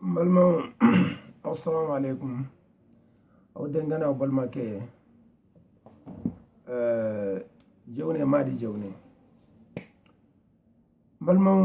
n balimaw asalamu aleykum aw denkɛ n'aw balimakɛ jewne madi jewne n balimaw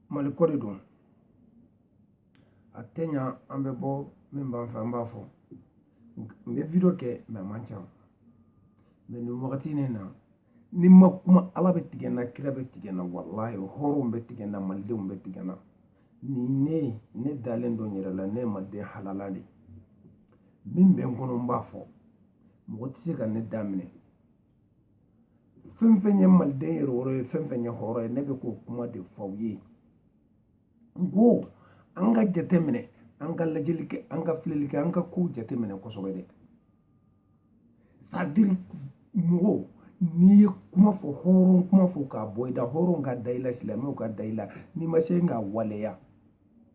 mali ko de don a tɛ ɲa an bɛ bɔ min b'an fɛ an b'a fɔ n bɛ video kɛ mɛ a man ca mɛ nin wagati nin na ni n ma kuma ala bɛ tigɛ n na kira bɛ tigɛ n na walayi hɔrɔnw bɛ tigɛ n na malidenw bɛ tigɛ n na ni ne ne dalen don n yɛrɛ la ne ye maliden halala de min bɛ n kɔnɔ n b'a fɔ mɔgɔ tɛ se ka ne da minɛ fɛn fɛn ye maliden yɛrɛwolo ye fɛn fɛn ye hɔrɔn ye ne bɛ k'o kuma de fɔ aw ye n ko an ka jateminɛ an ka lajɛli kɛ an ka filɛli kɛ an ka kow jateminɛ kosɛbɛ dɛ c'est-à-dire mɔgɔw n'i ye kuma fɔ hɔrɔn kuma fɔ k'a bɔ i da hɔrɔnw ka da i la silamɛw ka da i la n'i ma se k'a waleya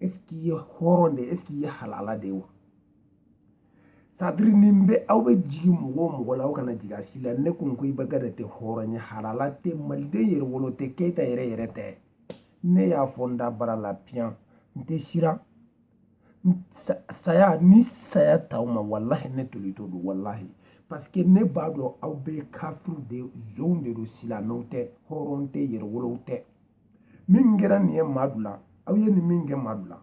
est-ce qu'i ye hɔrɔn de est-ce qu'i ye halala de ye wa c'est-à-dire nin bɛ aw bɛ jigi mɔgɔ o mɔgɔ la aw kana jigi a si la ne kun ko ibeka da tɛ hɔrɔn ye halala tɛ maliden yɛrɛwolo tɛ keyita yɛrɛ yɛrɛ tɛ ne y'a fɔ n dabara la piyan n tɛ siran saya ɲɛ saya t'aw ma walahi ne tolitɔ don walahi parce que ne b'a dɔn aw bɛɛ kafiriw de zonw de don silamɛw tɛ hɔrɔn tɛ yɛrɛwolow tɛ min kɛra nin ye madu la aw ye nin min kɛ madu la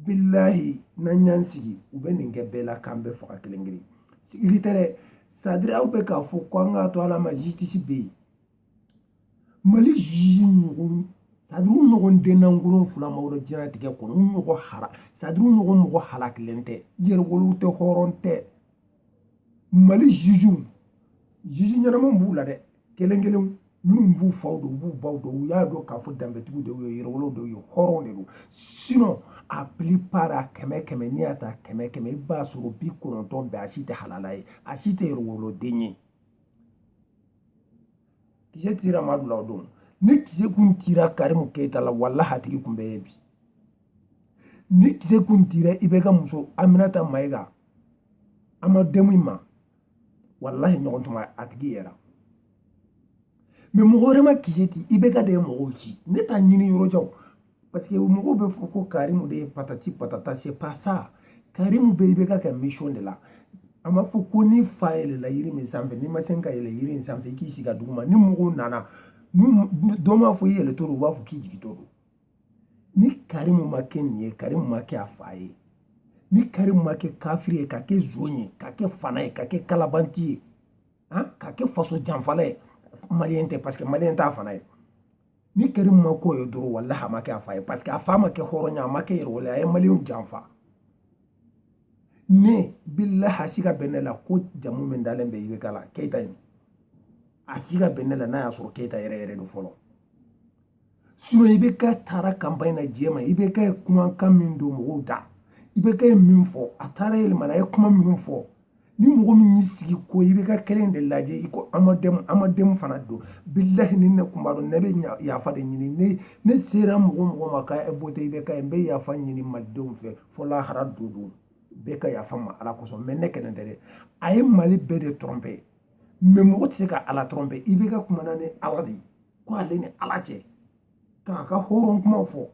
bilahi n'an y'an sigi u bɛ nin kɛ bɛɛ la k'an bɛɛ faga kelen kelen sigili tɛ dɛ c'est-à-dire aw bɛ k'a fɔ ko an k'a to ala ma jitisi bɛ yen mali jujuw ɲɔgɔn c'est-à-dire u ɲɔgɔn dennankolo fila ma wolo diɲɛlatigɛ kɔnɔ u ɲɔgɔn hara c'est-à-dire u ɲɔgɔn mɔgɔ halakilen tɛ yɛrɛwolow tɛ hɔrɔn tɛ mali jujuw juju ɲɛnamaw b'u la dɛ kelen kelenw minnu b'u faw don u b'u baw don u y'a dɔn k'a fɔ danbetigiw de ye yɛrɛwolow de ye hɔrɔnw de don sinon a plupart a kɛmɛ kɛmɛ n'i y'a ta kɛmɛ kɛmɛ i b'a sɔrɔ bi kɔnɔntɔn bɛɛ a si tɛ halala ye a si tɛ yɛrɛwoloden ye kisɛ tira madu la o don ni kisɛ kun tira karimu keyita la walahi a tigi kun bɛ ye bi ni kisɛ kun tira ibeka muso aminata mayiga an ma denmu in ma walahi ɲɔgɔn tuma a tigi yera mɛ mɔgɔ wɛrɛ ma kisɛ ti ibeka de ye mɔgɔw ci ne t'a ɲini yɔrɔ jan parce que mɔgɔw bɛ fɔ ko karimu de ye patati patata c'est pas ça karimu bɛ ibeka ka mission de la a ma fɔ ko n'i fa yɛlɛla yiri min sanfɛ n'i ma se ka yɛlɛ yiri in sanfɛ i k'i sigi duguma ni mɔgɔw nana dɔ m'a fɔ i yɛlɛtɔ don u b'a fɔ k'i jigintɔ don ni karimu ma kɛ nin ye karimu ma kɛ a fa ye ni karimu ma kɛ kafiri ye ka kɛ zon ye ka kɛ fana ye ka kɛ kalabanti ye ka kɛ faso janfala ye maliyɛn tɛ parce que maliyɛn t'a fana ye ni karimu ma ko ye dɔrɔn walahi a ma kɛ a fa ye parce que a fa ma kɛ hɔrɔnya a ma kɛ yɛrɛwolo a ye maliyɛnw janfa ne bilahi a siga bɛ ne la ko jamu min dalen bɛ ibk la keyita in a siga bɛ ne la n'a y'a sɔrɔ keyita yɛrɛ yɛrɛ don fɔlɔ sinɔn ibk taara kanpaɲi na diɲɛ ma ibk ye kumakan min don mɔgɔw da ibk ye min fɔ a taara yɛlɛmana a ye kuma minnu fɔ ni mɔgɔ min y'i sigi ko ibk kelen de lajɛ i ko amademu fana don bilahi ni ne kun b'a dɔn ne bɛ yafa de ɲini ne ne sera mɔgɔ mɔgɔ ma ka vote ibk ye n bɛ yafa ɲini malidenw fɛ fo lahara don don bɛɛ ka yafa n ma ala kosɔn mɛ ne kelen tɛ dɛ a ye mali bɛɛ de tɔrɔnpɛ mɛ mɔgɔ tɛ se ka ala tɔrɔnpɛ ibk kumana ni ala de ye ko ale ni ala cɛ k'a ka hɔrɔn kumaw fɔ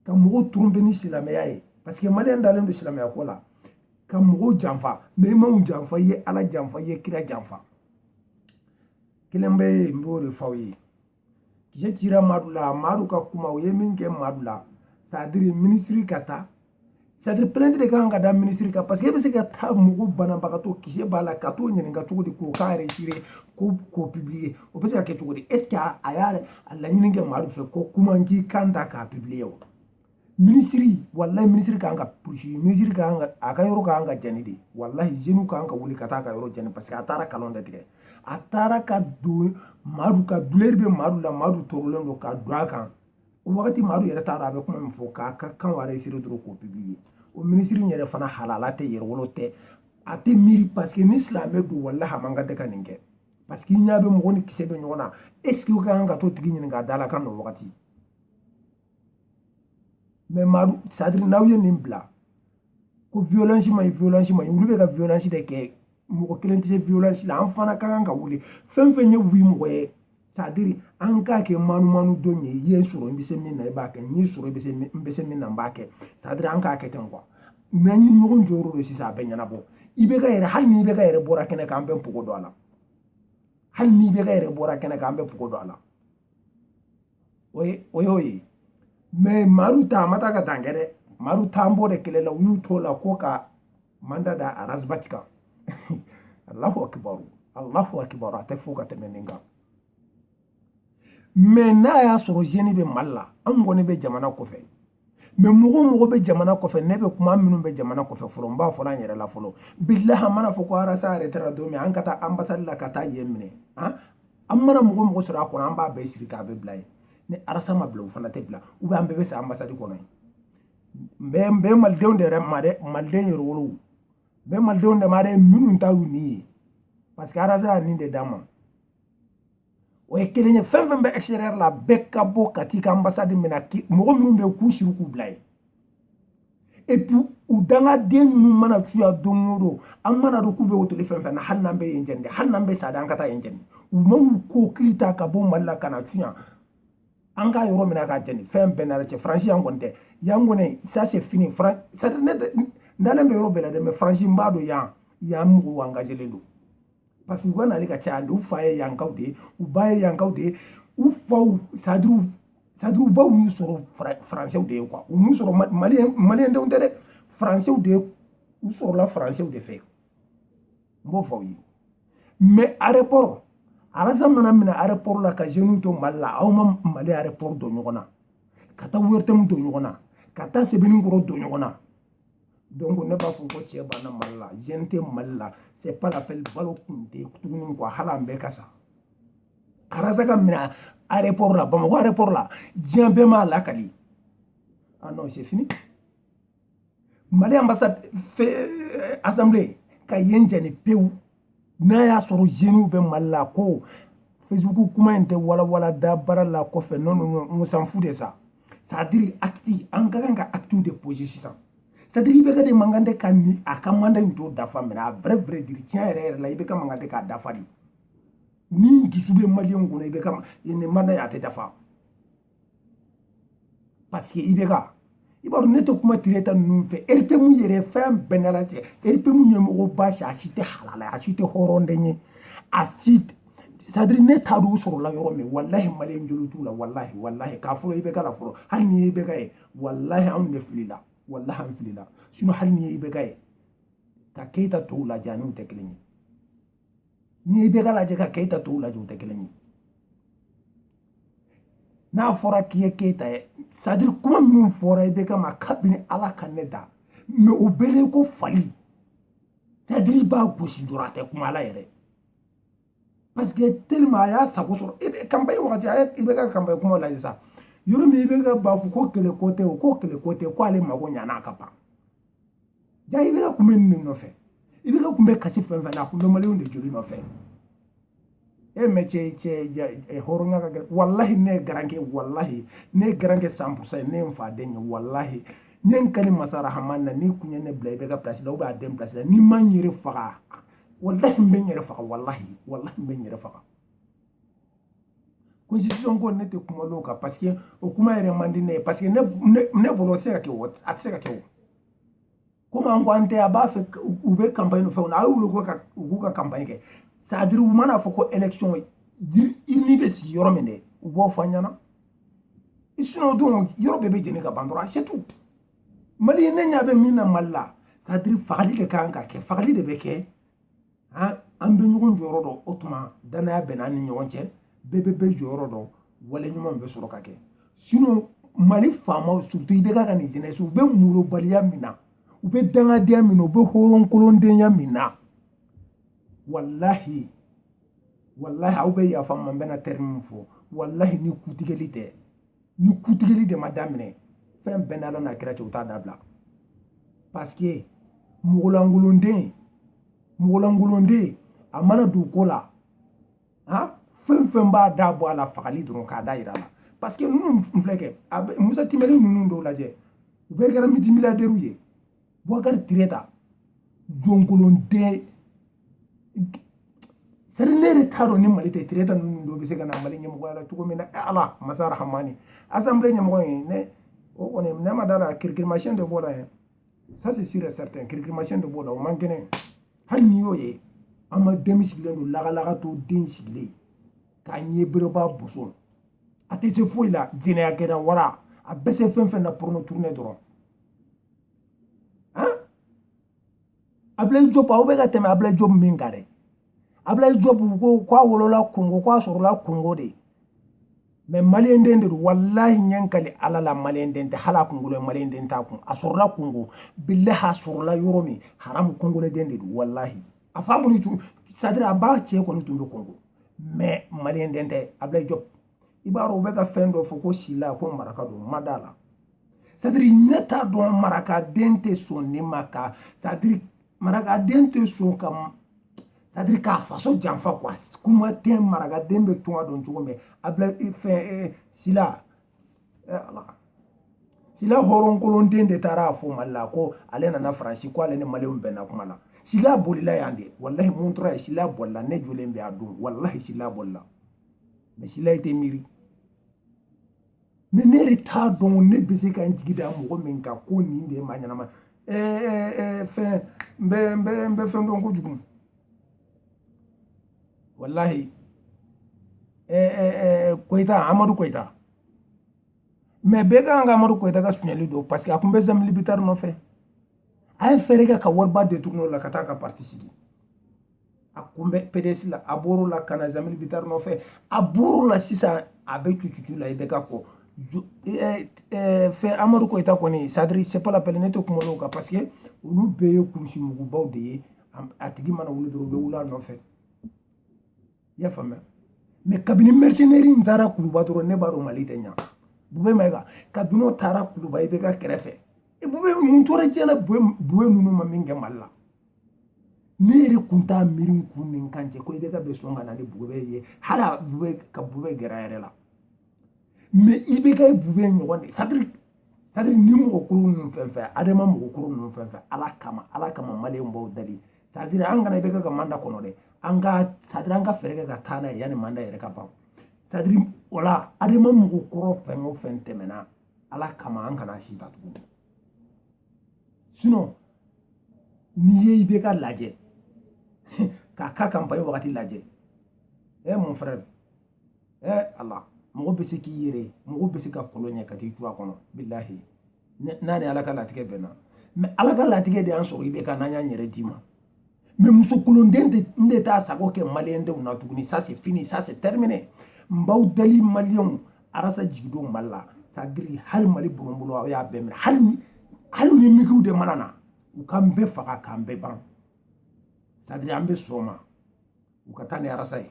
ka mɔgɔw trompe ni silamɛya ye parce que maliyɛn dalen don silamɛya ko la ka mɔgɔw janfa mɛ i m'anw janfa i ye ala janfa i ye kira janfa kelen bɛ yen n b'o de fɔ aw ye kisɛ cira madu la madu ka kuma u ye min kɛ madu la sadiri minisiri ka taa sadiri plainte de kan ka da minisiri kan parce que e bɛ se ka taa mɔgɔ banabagatɔ kisɛ b'a la ka t'o ɲininka cogo di k'o kan enregistrer k'o publiye o bɛ se ka kɛ cogo di est ce que a y'a laɲini kɛ madu fɛ ko kuma n k'i kan ta k'a publiye wa minisiri walayi minisiri kan ka poursuivre minisiri kan ka a ka yɔrɔ kan ka jani de walayi zenu kan ka wuli ka taa a ka yɔrɔ jani parce que a taara kalon de tigɛ a taara ka don madu ka duleri bɛ madu la madu tɔɔrɔlen don ka don a kan o wagati madu yɛrɛ t'a dɔn a bɛ kuma min fɔ k'a ka kan enregistrer dɔrɔn k'o publiye o minisiri in yɛrɛ fana halala tɛ yɛrɛwolo tɛ a tɛ miiri paseke ni silamɛ don walahi a man kan tɛ ka nin kɛ parce que i ɲɛ bɛ mɔgɔ ni kisɛ bɛ ɲɔgɔn na est ce que o ka kan ka t'o tigi ɲininka a da la kan n'o wagati mɛ madu sadiri n'aw ye nin bila ko violence man ɲi violence man ɲi olu bɛ ka violence de kɛ mɔgɔ kelen tɛ se violence la an fana ka kan ka wuli fɛn fɛn ye u mɔgɔ ye sadiri an k'a kɛ manumanu don ye i ye n sɔrɔ i bɛ se min na i b'a kɛ n y'i sɔrɔ i bɛ se n bɛ se min na n b'a kɛ sadiri an k'a kɛ ten kuwa mɛ an ye ɲɔgɔn jɔyɔrɔ dɔn sisan a bɛ ɲɛnabɔ ibk yɛrɛ hali ni ibk yɛrɛ bɔra kɛnɛ kan an bɛ pogo don a la hali ni ibk yɛrɛ bɔra kɛnɛ kan an bɛ pogo don a la o ye o y'o ye mɛ madu ta a ma taa ka dan kɛ dɛ madu t'an b'o de kɛlɛ la u y'u t'o la ko ka manda da arazbati kan allahu akibaru allahu akibaru a tɛ fɔ ka tɛmɛ nin kan mɛ n'a y'a sɔrɔ zeni bɛ mali la an kɔni bɛ jamana kɔfɛ mɛ mɔgɔ o mɔgɔ bɛ jamana kɔfɛ ne bɛ kuma minnu bɛ jamana kɔfɛ fɔlɔ n b'a fɔla an yɛrɛ la fɔlɔ bilahi a mana fɔ ko arasa arɛtera don min an ka taa anbasadi la ka taa yen minɛ an an mana mɔgɔ mɔgɔ sɔrɔ a kɔnɔ an b'a bɛɛ siri k'a bɛɛ bila yen ni arasa ma bila u fana tɛ bila ou bien an bɛɛ bɛ sa anbasadi kɔnɔ yen n bɛ malidenw de yɛrɛ ma dɛ maliden yɛrɛ wolow n bɛ malidenw de ma dɛ minnu ta y'u ni ye parce que arasa y'a nin de d'an ma o ye kelen ye fɛn fɛn bɛ extérieur la bɛɛ ka bɔ ka t'i ka ambassade minɛ mɔgɔ minnu bɛ k'u siri k'u bila yen et puis u dangaden ninnu mana cun yan don o don an mana dɔn k'u bɛ hôtel fɛn fɛn na hali n'an bɛ yen jɛni dɛ hali n'an bɛ sa dɛ an ka taa yen jɛni u man'u kɔkili ta ka bɔ mali la ka na cun yan an ka yɔrɔ minɛ k'a jɛni fɛn bɛɛ n'a la cɛ faransi yan kɔni tɛ yan kɔni ça c'est fini faran c'est à dire ne tɛ n dalen bɛ yɔrɔ bɛɛ la dɛ mais faransi n b'a dɔn yan yan mɔgɔw engagelen don parce que u ka nali ka caya de u fa ye yankaw de ye u ba ye yankaw de ye u faw c'est à dire u c'est à dire u baw y'u sɔrɔ Fra- faransɛw de ye quoi u m'u sɔrɔ Ma- maliyɛn maliyɛndenw tɛ dɛ faransɛw de ye u sɔrɔla faransɛw de fɛ n b'o fɔ aw ye mais aéroport arasa mana minɛ aéroport la ka jeunes to mali la aw ma mali aéroport don ɲɔgɔn na ka taa ORTM don ɲɔgɔn na ka taa sebenikɔrɔ don ɲɔgɔn na donc ne b'a fɔ ko cɛ banna mali la jeune tɛ mali la c'est pas la peine balo kun tɛ tuguni quoi hali an bɛɛ ka sa arasa ka minɛ aéroport la bamakɔ aéroport la diɲɛ bɛɛ m'a lakali ah non c'est fini mali ambassade euh, assemblée ka yen jɛni pewu n'a y'a sɔrɔ jeunes bɛ mali la ko facebook kuma in tɛ walawala da baara la kɔfɛ non non on s'en fout de ça c'est à dire acte an ka kan ka acte de poser sisan c'est à dire IBK de man kan tɛ ka ni a ka mandat in t'o dafa mais à vrai vrai dire tiɲɛ yɛrɛ yɛrɛ la IBK man kan tɛ k'a dafa dɛ ni dusu bɛ maliyɛnw kɔnɔ IBK nin mandat in a tɛ dafa parce que IBK i b'a dɔn ne tɛ kuma Tréta ninnu fɛ RPM yɛrɛ fɛn bɛɛ n'a la cɛ RPM ɲɛmɔgɔba si a si tɛ halala a si tɛ hɔrɔnden ye a si c'est à dire ne t'a dɔn u sɔrɔla yɔrɔ min walahi maliyɛn joli t'u la walahi walahi k'a fɔlɔ IBK la fɔlɔ hali ni IBK ye walahi anw de filila walahi an filila sinon hali ni IBK ye ka keyita tɔw lajɛ ani u tɛ kelen ye ni IBK lajɛ ka keyita tɔw lajɛ u tɛ kelen ye n'a fɔra k'i ye keyita ye c'est à dire kuma minnu fɔra IBK ma kabini ala ka ne da mais o bɛlen ko fali c'est à dire i b'a gosi dɔrɔn a tɛ kuma ala yɛrɛ parce que tellement a y'a sago sɔrɔ IBK campagne wagati a IBK campagne kuma lajɛ sa yɔrɔ min IBK b'a fɔ ko kɛlɛ ko tɛ o ko kɛlɛ ko tɛ ko ale mago ɲana a ka ban Ja IBK kun bɛ nin nɔfɛ IBK kun bɛ kasi fɛn fɛn na a kun bɛ maliyɛnw de joli nɔfɛ e mais cɛ cɛ hɔrɔnya ka gɛlɛn walahi ne ye garankɛ walahi ne ye garankɛ cent pour cent ye ne ye n fa den ye walahi n ye n kali masa rahamani na n'i kun ye ne bila IBK place la ou bien a den place la ni n ma n yɛrɛ faga walahi n bɛ n yɛrɛ faga walahi walahi n bɛ n yɛrɛ faga ko constitution ko ne tɛ kuma l'o kan parce que o kuma yɛrɛ man di ne ye parce que ne bolo o tɛ se ka kɛ o a tɛ se ka kɛ o komi an ko an tɛ a b'a fɛ u bɛ campagne fɛnw na a y'u wele ko ka u k'u ka campagne kɛ c'est à dire u mana fɔ ko élection ni bɛ sigi yɔrɔ min dɛ u b'o fɔ an ɲɛ na sinon o don yɔrɔ bɛɛ bɛ jeni ka ban dɔrɔn c'est tout mali ne ɲɛ bɛ min na mali la c'est à dire fagali de ka kan ka kɛ fagali de bɛ kɛ an bɛ ɲɔgɔn jɔyɔrɔ dɔn o tuma danaya bɛ n'an ni ɲɔgɔn cɛ bɛɛ bɛ bɛɛ jɔyɔrɔ dɔn wale ɲuman bɛ sɔrɔ ka kɛ sinon mali faamaw surtout IBK ka nin jeunesse u bɛ molobaliya min na u bɛ dangadenya min na u bɛ hɔrɔnkolondenya min na walahi walahi aw bɛ yafa ma n bɛna terme min fɔ walahi ni kuntigɛli tɛ ni kuntigɛli de ma daminɛ fɛn bɛɛ n'ala n'a kira cɛ u t'a dabila parce que mɔgɔlangolonden mɔgɔlangolonden a mana don ko la han fɛn fɛn b'a da bɔ a la fagali dɔrɔn k'a dan yira a la parce que ninnu filɛ kɛ Moussa Timbiné ninnu dɔw lajɛ u bɛɛ kɛra multimilliardaires ye Boubacar Tréta jɔnkolonden c'est à dire ne yɛrɛ t'a dɔn ni mali tɛ Tréta ninnu dɔ bɛ se ka na mali ɲɛmɔgɔya la cogo min na ala masa rahamani assemblée ɲɛmɔgɔ ye ne o kɔni ne ma da a la kirikirimasiyɛn de b'o la yɛrɛ ça c'est sûr et certain kirikirimasiyɛn de b'o la o man kɛnɛ hali n'i y'o ye an ma den sigilen don lagalaga to den sigilen k'a ɲɛ bereba boso a tɛ se foyi la jɛnɛyakɛla wara a bɛ se fɛn fɛn na porno tourner dɔrɔn Ablaye Diop aw bɛ ka tɛmɛ Ablaye Diop min kan dɛ Ablaye Diop ko k'a wolola Kongo k'a sɔrɔla Kongo de mais maliyɛnden de don walahi n ye n kali ala la maliyɛnden tɛ hali a kunkolo maliyɛnden t'a kun a sɔrɔla Kongo bilahi a sɔrɔla yɔrɔ min haramu kongoleden de don walahi a fa kɔni tun c'est à dire a ba cɛ kɔni tun bɛ Kongo mais maliyɛnden tɛ Ablaye Diop i b'a dɔn u bɛ ka fɛn dɔ fɔ ko sila ko maraka don n ma d'a la c'est à dire ne t'a dɔn marakaden tɛ sɔn ne ma ka c'est à dire marakaden tɛ sɔn ka c'est à dire k'a faso janfa quoi kuma tɛ marakaden bɛ tunga dɔn cogo min a bila fɛn sila ala sila hɔrɔnkolonden de taara a fɔ mali la ko ale nana faransi ko ale ni maliw bɛnna kuma na sila bolila yan de walahi Montreuil sila bolila ne jɔlen bɛ a don walahi sila bolila mais sila i tɛ miiri mais ne yɛrɛ t'a dɔn ne bɛ se ka n jigi da mɔgɔ min kan ko nin de ye maa ɲɛnama fɛn n bɛ n bɛ n bɛ fɛn dɔn kojugu walahi koyita amadu koyita mais bɛɛ ka kan ka amadu koyita ka sunyali dɔn parce que a tun bɛ Jeamille Bittar nɔfɛ a ye fɛɛrɛ kɛ ka wariba détourner o la ka taa ka parti sigi a kun bɛ pds la a bɔr'o la ka na zamili bitari nɔfɛ a bɔr'o la sisan a bɛ cucucu la ibk kɔfɛ amadu koyita kɔni sadiri c'est pas la peine ne tɛ kuma olu kan parce que olu bɛɛ ye kurusi mugubaw de ye a tigi mana wuli dɔrɔn u bɛ wuli a nɔfɛ i y'a faamuya mɛ kabini mercenaire in taara kuluba dɔrɔn ne b'a dɔn mali tɛ ɲa bube mayiga kabini o taara kuluba ibk kɛrɛfɛ bube mun tora diɲɛ na bube ninnu ma min kɛ mali la ne yɛrɛ kun t'a miiri n kun ni n kan cɛ ko ibk bɛ sɔn ka na ni bube ye hali a bube ka bube gɛrɛ a yɛrɛ la mɛ ibk bube ɲɔgɔn de sadiri sadiri ni mɔgɔ kɔrɔ ninnu fɛn fɛn adema mɔgɔ kɔrɔ ninnu fɛn fɛn ala kama ala kama maliyɛnw n b'aw dali sadiri an kana ibk ka manda kɔnɔ dɛ an ka sadiri an ka fɛɛrɛ kɛ ka taa n'a ye yanni manda yɛrɛ ka ban sadiri wala adema mɔgɔ kɔrɔ fɛn o fɛn tɛmɛna ala kama an kana si ta tuguni sinɔn n'i ye ibk lajɛ k'a ka kanpaɲi wagati lajɛ ɛ eh, mon frère ɛ eh, ala mɔgɔ bɛ se k'i yɛrɛ mɔgɔ bɛ se ka kɔlɔn ye ka t'i cun a kɔnɔ bilahi n'a ni ala ka latigɛ bɛnna mɛ ala ka latigɛ de y'an sɔrɔ ibk n'an y'an yɛrɛ d'i ma mɛ muso kolonden de n de t'a sago kɛ maliyɛndenw na tuguni ça c'est fini ça c'est terminé n b'aw deli maliyɛnw arasa jigin don mali la sadiri hali mali bɔnbolo aw y'a bɛɛ minɛ hali hali ni migiw de mana na u k'an bɛɛ faga k'an bɛɛ ban sadiri an bɛ sɔn ma u ka taa ni arasa ye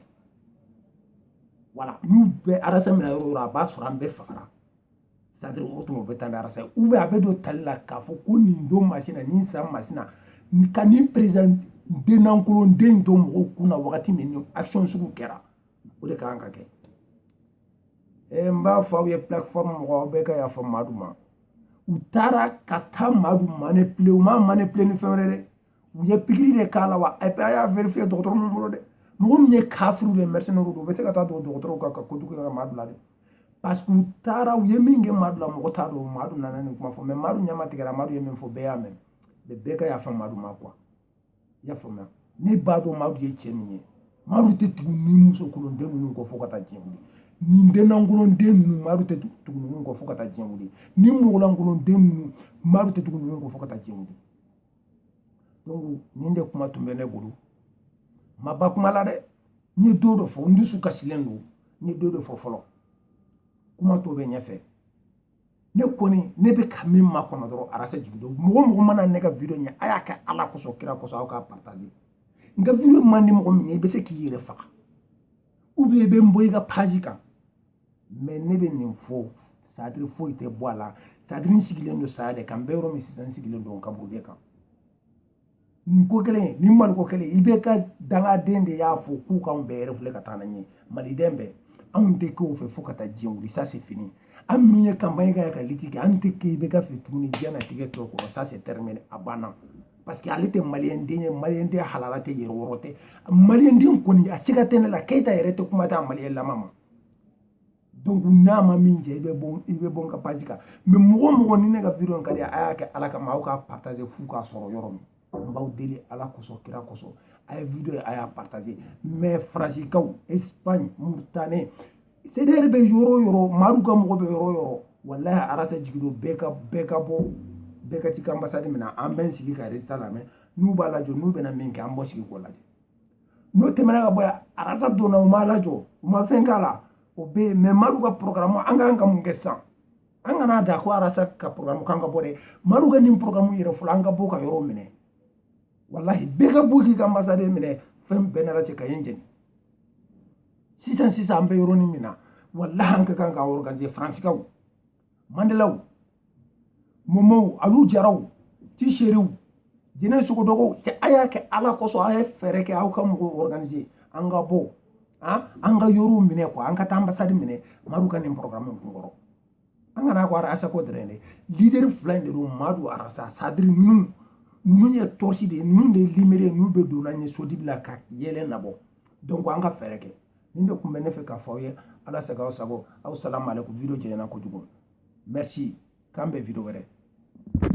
wala n'u bɛ arasa minɛ yɔrɔ yɔrɔ a b'a sɔrɔ an bɛɛ fagara sadiri o tuma u bɛ taa ni arasa ye u bɛ a bɛ don tali la k'a fɔ ko nin don masina nin san masina ka nin perezidan dennankolonden to mɔgɔw kun na wagati min ni action sugu kɛra o de ka kan ka kɛ eh, n b'a fɔ aw ye plateforme mɔgɔ aw bɛɛ ka yafa madu ma u taara ka taa madu manipule u ma manipule ni fɛn wɛrɛ dɛ u ye pikiri de k'a la wa a y'a vérifier dɔgɔtɔrɔ min bolo dɛ mɔgɔ min ye kafiriw de mercenaire don u bɛ se ka taa don dɔgɔtɔrɔw ka ka kojugu kɛ madu la dɛ parce que u taara u ye min kɛ madu la mɔgɔ t'a dɔn madu nana nin kuma fɔ mɛ madu ɲɛma tigɛra madu ye min fɔ bɛɛ y'a mɛn bɛɛ ka yafa madu ma quoi i y'a faamuya ne b'a dɔn madu ye cɛ min ye madu tɛ tugu nin muso kolonden ninnu kɔ fo ka taa diɲɛ wuli nin dennankolonden ninnu madu tɛ tugu ninnu kɔ fo ka taa diɲɛ wuli nin mɔgɔlankolonden ninnu madu tɛ tugu ninnu kɔ fo ka taa diɲɛ wuli donc nin de kuma tun bɛ ne bolo n ma ban kuma la dɛ n ye dɔ dɔ fɔ n dusu kasilen don n ye dɔ dɔ fɔ fɔlɔ kuma tɔ bɛ ɲɛfɛ ne kɔni ne bɛ ka min makɔnɔ dɔrɔn arasa jigin don mɔgɔ mɔgɔ mana ne ka video ye a y'a kɛ ala kosɔn kira kosɔn aw k'a partage n ka video man di mɔgɔ min ye i bɛ se k'i yɛrɛ faga ubiyɛn i bɛ n bɔ i ka page kan mɛ ne bɛ nin fɔ sadiri foyi tɛ bɔ a la sadiri n sigilen don saya de kan n bɛ yɔrɔ min sisan n sigilen don kaburu de kan nin ko kelen nin maliko kelen ibk dangaden de y'a fɔ k'u k'anw bɛɛ refouler ka taa n'an ye maliden bɛɛ anw tɛ k'o fɛ fo ka taa diɲɛ wuli ça c'est fini an minnu ye campagne kɛ ka lutte kɛ an tɛ k'ibk fɛ tuguni diɲɛnatigɛ tɔ kɔnɔ ça c'est terminé a banna parce que ale tɛ maliyɛnden ye maliyɛnden halala tɛ yɛrɛwolo tɛ maliyɛnden kɔni a siga tɛ ne la keyita yɛrɛ tɛ kuma t'a maliyɛn lama ma donc n'a ma min jɛ i bɛ bɔ i bɛ bɔ n ka page kan mais mɔgɔ o mɔgɔ ni ne ka video ka di a y'a kɛ ala kama aw k'a partager f'u k'a sɔrɔ yɔrɔ min n b'aw deli ala kosɔn kira kosɔn a ye video ye a y'a partager mais faransikaw espagne mauritanie cdr bɛ yɔrɔ o yɔrɔ madu ka mɔgɔ bɛ yɔrɔ o yɔrɔ walahi arasa jigin don bɛɛ ka bɛɛ ka bɔ bɛɛ ka t'i ka ambassade minɛ an b'an sigi ka résultat lamɛn n'u b'a lajɔ n'u bɛna min kɛ an b'o sigi k'o lajɛ n'o tɛmɛna ka bɔ yan arasa donna u m'a lajɔ u ma fɛn k'a la o bɛ yen mais madu ka porogaramu an kan ka mun kɛ sisan an kana da ko arasa ka porogaramu kan ka bɔ dɛ madu ka nin porogaramu yɛrɛ fɔlɔ an ka bɔ ka yɔrɔ minɛ walahi bɛɛ ka bɔ k'i ka ambassade minɛ fɛn bɛɛ nana cɛ ka yen jeni sisan sisan an bɛ yɔrɔnin min na walahi an ka kan ka organiser faransikaw mandelaw momow alu jaraw tiseriw jɛnɛ sogodɔgɔw cɛ a y'a kɛ ala kosɔn a ye fɛɛrɛ kɛ aw ka mɔgɔw organiser an ka bɔ an ka yɔrɔw minɛ quoi an ka taa ambassade minɛ madu ka nin porogaramu kun kɔrɔ an kana ko arasa ko dɔrɔn dɛ leader fila in de don madu arasa c'est-à-dire ninnu ninnu ye torche de ye ninnu de ye lumière ye n'u bɛ don an ɲɛ so dibi la ka yeelen nabɔ donc an ka fɛɛrɛ kɛ nin de kun bɛ ne fɛ k'a fɔ aw ye ala sago aw sago asalamu aleykum video janyana kojugu merci k'an bɛn video wɛrɛ